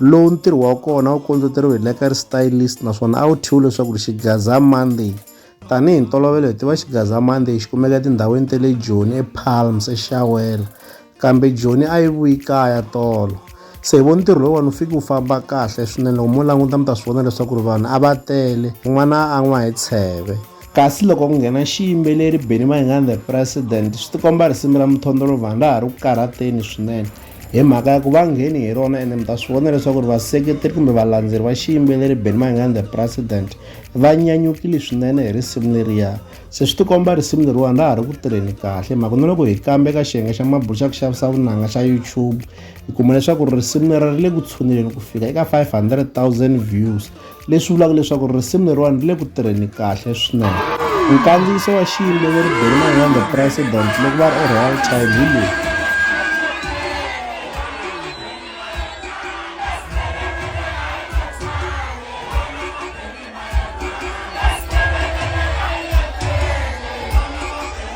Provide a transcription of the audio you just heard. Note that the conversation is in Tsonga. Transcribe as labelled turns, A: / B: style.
A: lowu ntirho wa kona wu kondleteriwe hi Lekari Stylist naswona a wu thyiwe leswaku Xigaza Monday. Tanihi ntolovelo hi tiva Xigaza Monday xi kumeka etindhawini ta le Joni, ePalms, eXawela. Kambe Joni a yi vuyi kaya tolo. Se hi vo ntirho lowuwani wu fike wu famba kahle swinene loko mo languta mi ta swi vona leswaku ri vanhu a va tele un'wana a n'wa hi tsheve. Kasi loko ku nghena xiyimbeleri Benny Mayengani the President swi tikomba risimu ra Mthondolovhani ra ha ri ku karhateni swinene. hi mhaka ya ku va ngheni hi rona ene mi ta swi vona leswaku ri vaseketeri kumbe valandzeri va xiyimbeleri ben mayingani the president va nyanyukile swinene hi risimu leriya se swi tikomba risimu leriwani ra ha ri ku tirheni kahle mhaka na loko hi kambe ka xiyenge xa mabulu xa ku xavisa vunanga xa youtube hi kuma leswaku risimu lera ri le ku tshuneleni ku fika eka 500 000 views leswi vulaka leswaku risimu leriwani ri le ku tirheni kahle swinene nkandziyiso wa xiyimbeleri benman the president loko va ri eroyal child hi lowu